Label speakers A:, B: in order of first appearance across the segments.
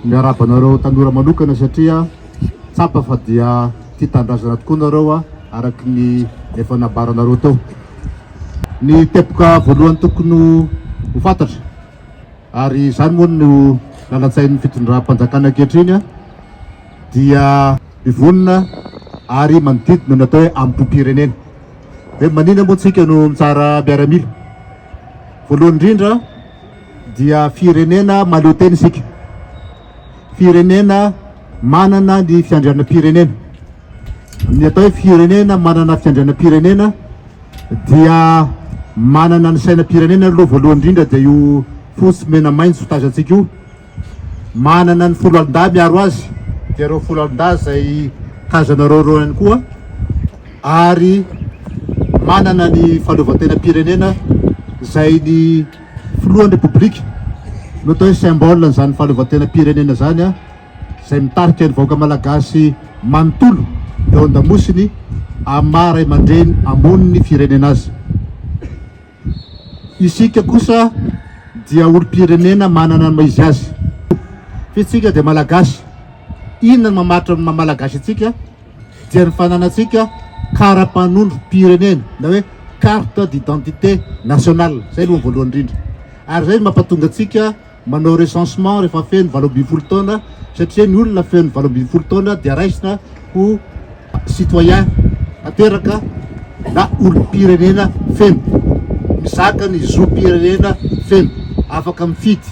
A: Miarahaba anareo tanora manokana satria tsapa fa dia tia tanindrazana tokoa nareo araka ny efa nambaranareo teo. Ny teboka voalohany tokony ho fantatra ary izany moa no lalan-tsain'ny fitondram-panjakana ankehitriny. dia mivonona ary manodidina ny atao hoe ambohipirenena. Dia maninona moa tsika no mitsara miaramila? Voalohany indrindra dia firenena mahaleo tena isika. Firenena manana ny fiandrianam-pirenena. Ny atao hoe firenena manana fiandrianam-pirenena dia manana ny sainam-pirenena aloha voalohany indrindra dia io fosy mena maitso tazantsika io. manana ny foloalindahy miaro azy dia ireo foloalindahy izay tazanareo ireo ihany koa ary manana ny fahaleovantenam-pirenena izay ny filohan'ny repoblika no atao hoe symbole an'izany fahaleovantenam-pirenena izany a izay mitarika ny vahoaka malagasy manontolo eo an-damosiny amin'ny maha ray aman-dreny amonin'ny firenena azy Isika kosa dia olom-pirenena manana ny maha izy azy. Fa isika dia Malagasy. Inona no mamaritra ny maha Malagasy antsika? Dia ny fananantsika kara-panondrom-pirenena na hoe carte d'identité nationale. Izay aloha ny voalohany indrindra. Ary izay no mampatonga antsika Manao recensement rehefa feno valo ambin'ny folo taona satria ny olona feno valo ambin'ny folo taona dia raisina ho citoyen tanteraka na olom-pirenena feno, mizaka ny zom-pirenena feno, afaka mifidy,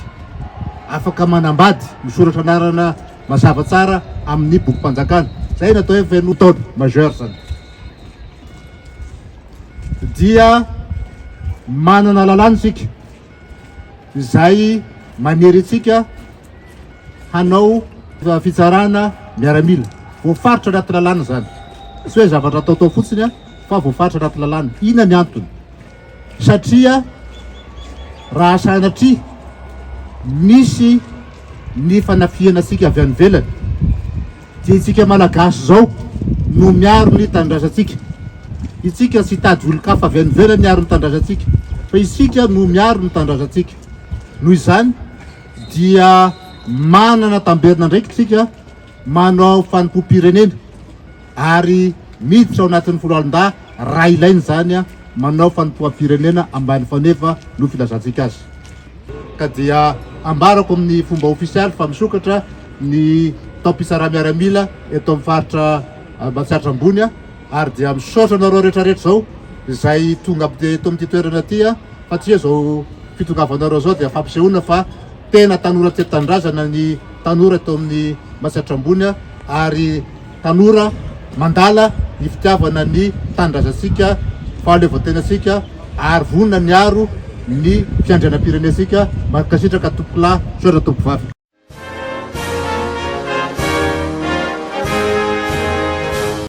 A: afaka manambady, misoratra anarana mazava tsara amin'ny bokim-panjakana. Izay no atao hoe feno taona, majeur izany. Dia manana lalàna isika. izay manery antsika hanao fitsarana miaramila. Voafaritra anaty lalàna izany. Tsy hoe zavatra ataotao fotsiny fa voafaritra anaty lalàna. Inona ny antony? Satria raha sanatria misy ny fanafihana antsika avy any ivelany Tsy isika Malagasy izao no miaro ny tanindrazantsika. Isika tsy hitady olon-kafa avy any ivelany hiaro ny tanindrazantsika fa isika no miaro ny tanindrazantsika. Noho izany dia manana tamberina andraikitra isika manao fanompoam-pirenena ary miditra ao anatin'ny foloalindahy raha ilaina izany manao fanompoam-pirenena ambany faneva no filazantsika azy. ka dia ambarako amin'ny fomba ofisialy fa misokatra ny taom-pisaraha-miaramila eto amin'ny faritra Ambatsiatra Ambony ary dia misaotra anareo rehetrarehetra izao izay tonga eto amin'ity toerana ity satria izao fitongavanareo izao dia fampisehoana fa tena tanora tia tanindrazana ny tanora eto amin'ny Matsiatra Ambony ary Tanora mandala ny fitiavana ny tanindrazantsika, fahaleovantenantsika ary vonona ny hiaro ny fiandrianam-pirenentsika. Mankasitraka tompokolahy, misaotra tompovavy.